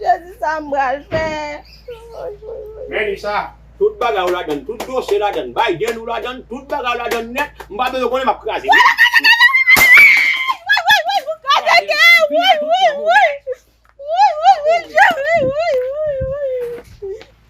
Jezi sa m pral fè. Men li sa, tout bagay ou ladann, tout dosye ladann, Biden ou ladann, tout bagay ou ladann nèt, m pa bezwen konnen m ap kraze l.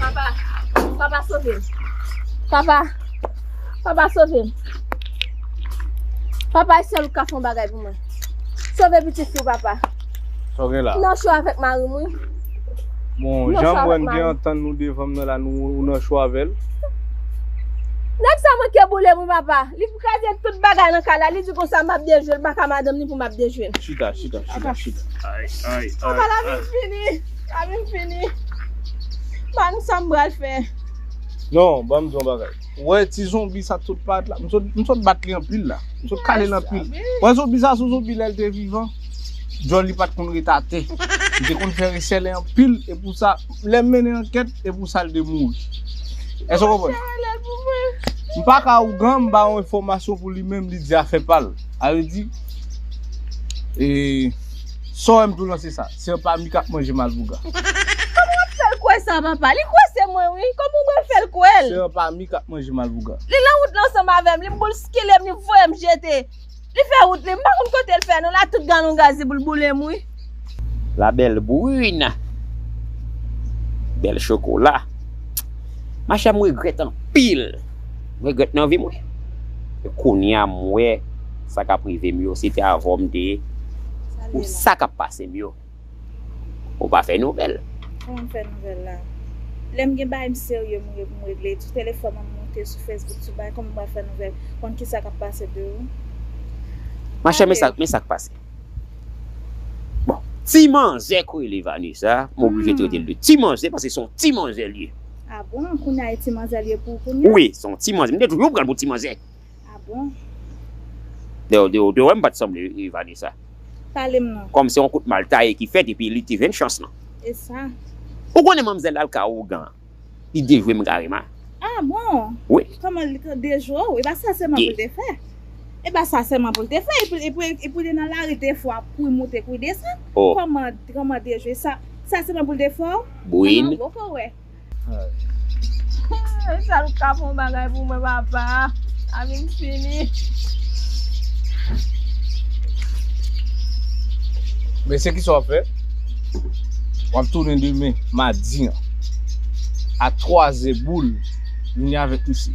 Papa, papa sove m. Papa, papa sove m. Papa e sèl ou ki ka fè yon bagay pou mwen. Sove pitit fi w papa. Sa w gen la? M nan cho avèk mari m wi. Bon, jan m wè n gen antann nou devan m nan la, ou nan cho avè l? Nèg sa manke boule m wi papa. Ou kraze tout bagay nan kay la li di konsa map dejwel paka madanm li pou map dejwel. Chita chita chita chita ay ay ay. Apa la vin fini la vin fini ba nou sam pral fè. Non banm di yon bagay ou wè ti zonbi sa sot parèt la m sot bat li anpil la m sot kalel anpil ou wè zonbi sa son zonbi lèl te vivan djòl li pat konn ret atè li te konn fè resèlè anpil epou sa. Lèm mennen ankèt e pou sal de mouri. Èske w konprann? M pa ka ougan m ba yon enfòmasyon pou li menm li di afè pa l. A vle di e sa w wè m tou lan se sa. Se anpla mi k ap manje mal pou ga. Kòman w ap fè l kwè sa papa? Li kwè se mwen wi. Kòman w pral fè l kwè l? Se anpla mi k ap manje mal pou ga. Li lan wout la ansanm avè m. Li boulskile m, li voye m jete. Li fè wout li m pa konn kotel fè non la tout galon gaz li pou l boulem wi. La belle brune bel chokola ma chère m regrèt anpil m regrèt nan vim wi e kounya m wè sa kap rivem yo si te avèw m te ou sa kap pasem yo. Ou pa fè nouvèl. Kòman m fè nouvèl la? Lè m gen bagay m serye m m regle. Sou telefòn an m monte sou Facebook sou bagay kòman m pral fè nouvèl? Konn kisa k ap pase de ou? Machè men sa men sa k pase. Bon ti manzè k rele Vanessa m oblije trete l de ti manzè paske se yon ti manzè l ye. A bon! Kounya e ti manzè l ye pou ou kounya? Wi se yon ti manzè. M te toujou pran l pou ti manzè. Ah bon? Ou te wèm pat sanble wi Vanessa. Palem non. Kòm se yon kout mal taye ki fèt epi li te jwenn chans lan. Esa. Ou konnen manmzèl la ka ougan li dejwem karema. Ah bon? Wi. Kòman li ka dejwe w epa sa sèman poul te fè. Epa sa sèman poul te fè epi pou li nan lari de fwa pou li moute pou li desann. Oh. Kòman dejwe sa sèman poul te fè w. Bouin. Kòman wè. Ay sal ou pka fè yon bagay pou mwen papa la vim fini. Mesye kisa wap fè? Wap tounen demen madi an a 3 zè boul vini avèk misye.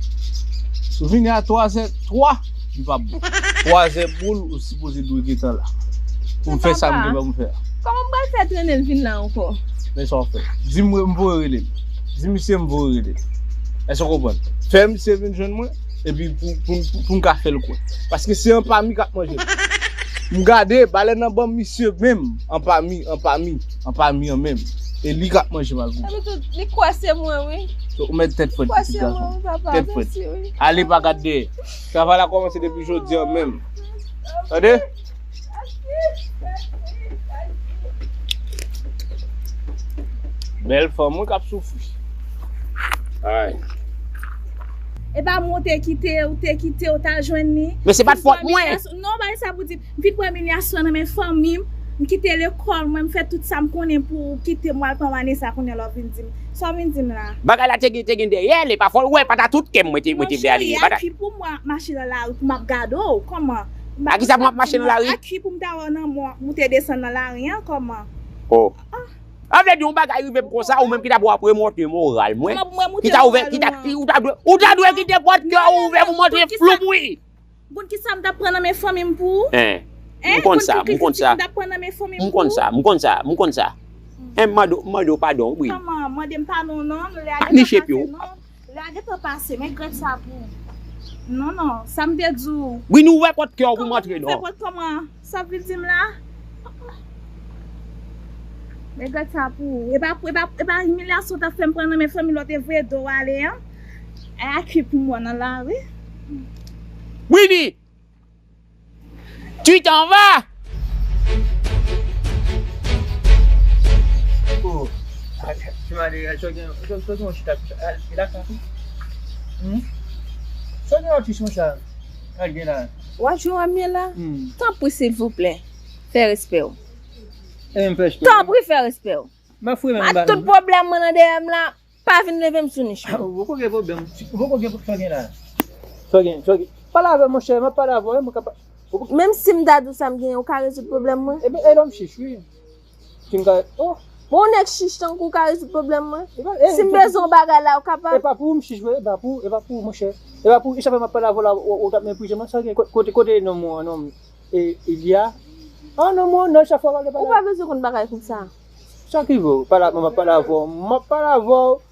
Sou vini a 3 zè 3. li pap bon. 3 zè boul ou sipoze dwe gentan la pou m fè sa m gen pou m fè a. Kòman m pral fè trennen l vin la ankò? Men sa w fè. Di m m voye rele l. Di misye m voye rele l. Èske w konprann? Fè misye vin jwenn mwen epi pou m ka fè l kwè. Paske se anpami k ap manje l. M gade, balèn nan ban misye menm anpami, anpami, anpami an menm. E li k ap manje malgre w. Epitou, li kwè se mwen wi. Ou mèt tèt frèt pitit gason m. Li kwè se mwen wi papa. Tèt frèt. Ale pa gad dèyè. Travay la komanse depi jodi an menm. Tande! Bèl fanm wi kap soufri. Ay. Epa mwen ou te kite, ou te kite ou ta jwenn li. Men se pat fòt mwen. Non bay sa pou di. M fin pran imilyasyon nan men fanmi m, m kite lekòl mwen, m fè tout sa m konnen pou ou kite m wal pran Vanessa kounye a la w vin di m sa w vin di m la. Bagay la te gen dèyè l epa fò l wè pa ta tout kè m mwen te vle ale li pa ta. Aki pou mwen ap mache nan lari pou m ap gade w kòman. Aki sa pou m ap mache nan lari. Aki pou m ta wè w nan mò moute desann nan lari an kòman. Oh. Sa vle di yon bagay rive m konsa ou menm ki ta pou ap remonte moral mwen, ki ta ouvè, ki ta, ou ta dwe kite pòt kè w ouvè pou m antre floup wi. M konn kisa m tap pran nan men fanmi m pou ou. Eh m konn sa, m konn sa. M konn sa, m konn sa, m konn sa. Eh m mande w, m mande w padon wi. Manman, mande m padon non, lè a gentan pase non. Lè a gentan pase, men grèf sa pou ou. Non non, sa m te di w. Wi nou ouvè pòt kè w pou m antre non. Kòman nou ouvè pòt kè w? Sap vin dim la oh oh. Men gad sa pou ou. Epa pou epa epa imilyasyon tap fèm pran nan men fanmi lòt evre do ale an. Ay a ki pou mwen nan la wi. Widy tu t'en vas. Wa jwe wam ye la? Tanpri silvouplè fè respè w. Tanpri fè respè w. Ma tout pwoblèm mwen nan dèyè m la, pa vin leve m sou nich mwen. Ou poko gen pwoblèm. Ou poko gen sa w gen la. Sa w gen, sa w gen. Pale avè m monchè, m ap pale avè w. Menm si m ta di w sa m gen, ou ka rezoud pwoblèm mwen? E lè w m chich wi. Sim ka oh. Bon yon nèg chich tankou w ka rezoud pwoblèm mwen? Sim bezwen yon bagay la ou kapab? Epa pou ou m chich vre, epa pou ou, epa pou ou monchè. Epa pou ou, e sa fè map pale avè w la ou tap meprize mwen, sa gen kote kote nonm ou an nonm e Ilia? An nonm ou an nonm chak fwa wap pale. Ou pa bezwen konn bagay konsa. Sa ki vre ou pale avè mwen map pale avè w, map pale avè w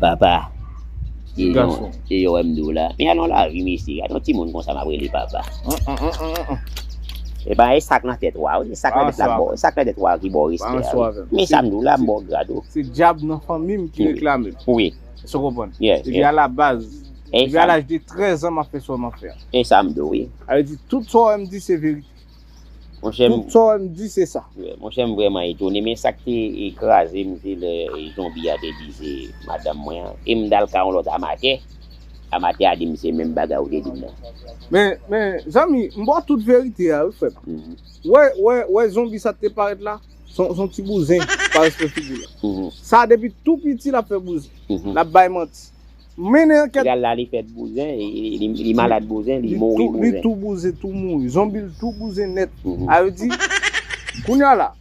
Papa Ti gason E yo wè m dou la Men alon lavi mesye Gade yon timoun konsa m ap rele papa E pa e sa k nan tèt wa wi E sa k nan tèt la k ba w E sa k nan tèt wa ki ba w respè a wi Men sa m di w la m ba w grad ou Se dyab nan fanmi m ki reklame m Wi Èske w konprann Depi alabaz Depi a laj de 13 an m ap fè sa w m ap fè a E sa m di w wi Sa vle di tout sa w wè m di se verite Tout sa ou di se sa. Monchè m vrèman etone men sak te kraze m se lè zonbi a te di se madanm mwen an e m t al ka yon lòt amatè, amatè a di m se menm bagay ou te di m nan. Men zanmi m ba w tout verite a wi frè m. Ou wè zonbi sa te parèt la son ti bouzen pa respè figi l. Sa depi tou piti l ap fè bouzen l ap bay manti. Mennen anket. Li al la li fèt bouzen li malad bouzen li mouri bouzen. Li tou bouzen tou mouri. Zonbi l tou bouzen nèt. A yo di Kounya la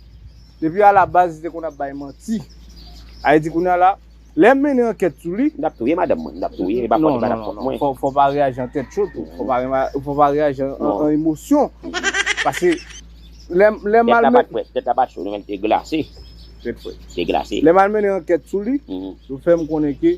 depi a la baz li te konn ap bay manti. A yo di kounya la lè m mennen ankèt sou li. M tap touye madanm mwen. M tap touye li pa fòt li pa tap fòt mwen. Non non fò pa reyaji an tèt cho tou. Fò pa reyaji an emosyon. Pase lè m al mennen. Tèt la pat frèt tèt la pat cho li menm li te glase. Tèt frèt. Li te glase. Lè m al mennen ankèt sou li yo fè m konnen ke.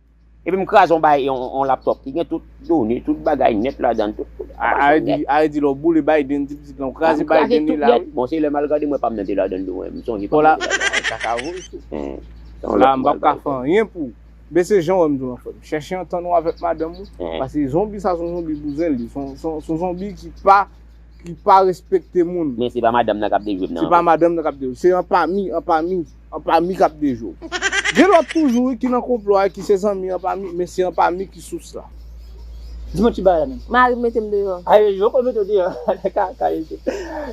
Epi m kraze yon bay yon laptop ki gen tout done, tout bagay nèt ladan. Are di lè w boule Biden ti pitit lan w kraze Biden li la wi. Bon se lè m al gade mwen pa m nan te ladan tou m sonje pa m nan te ladan. Bon la sa ka vo tou. Bon la m pap ka fè anyen pou ou. Men se jan w wè m tou lan frè m. Chèche antann ou avèk madanm ou. Pase zonbi sa son zonbi bouzen li. Son zonbi ki pa ki pa respekte moun. Men se pa madanm nan k ap dejwe m nan. Se pa madanm nan k ap dejwe. Se anpami anpami. Anpami kap de jou. Gen lòt toujou wi ki nan konplo a ki se zanmi anpami men se anpami ki sous la. Di mwen ti bagay la menm. Mari m mete m deyò. Ay yo poko mete w deyò nan kaka yo tou.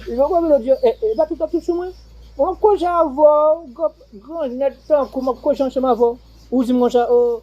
Yo poko mete w deyò e yo pa tout ap tout sou mwen. Mwen pko jan avè w, grann nèg tankou mwen pko jan ansanm avè w. Ou di m konsa oo.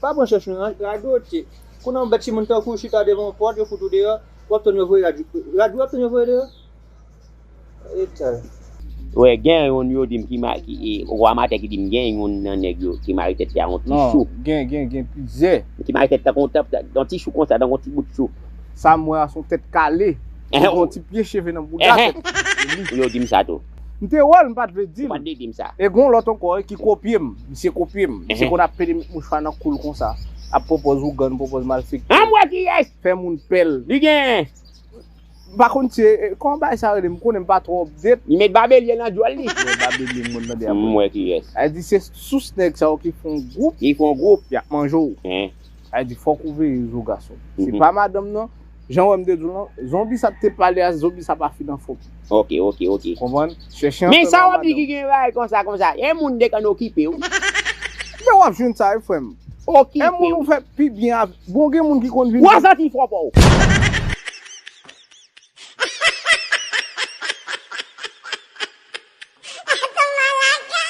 Pa pran chans nou nan. Radote. Kounye a ou bèt si moun tankouw chita devan yon pòt yo fout ou deyò wap tann yo voye rad rad wap tann yo voye deyò etal. Wè gen youn yo dim ki ma ki e ou a matè ki dim gen youn nan nèg yo ki mare tèt li a yon ti chou. Non gen gen gen plizyè. Ki mare tèt tankou yon tap ta yon ti chou konsa tankou yon ti bout chou. Sam wè a son tèt kale. Li gen yon ti pye cheve nan bouda tèt li. Wi yo dim sa tou. M te wè l, m pa t vle di l. Ou pa t vle di m sa. E gen yon lòt ankò ki kopye m. Misye kopye m. Misye konn apele met mouchwa nan kou l konsa. Ap pwopòz ougan, pwopòz malfektè. An m wè kiyès! Fè moun pè l. Li gen. M pa konn si e, kòman bagay sa rele? M konnen m pa twò update. Li met babelye nan djòl li. M wè babelye m konn tande apre. M wè kiyès. Sa vle di se sous nèg sa yo ki fè yon gwoup. Ki fè yon gwoup. Y ap manje w. Sa vle di fòk ou veye zo gason. Se pa madanm nan. Jan wèm te diw lan zonbi sa te pale a zonbi sa pa fin anfom. Ok ok ok. Konprann? Chèche anpè non a madanm. Gen bagay konsa konsa e moun de konn okipe w. Men wap jwenn sa wi frem. Okipe w. E moun ou fè pi byen avèk. Bon gen moun ki konn vin. Wap santi fò paw.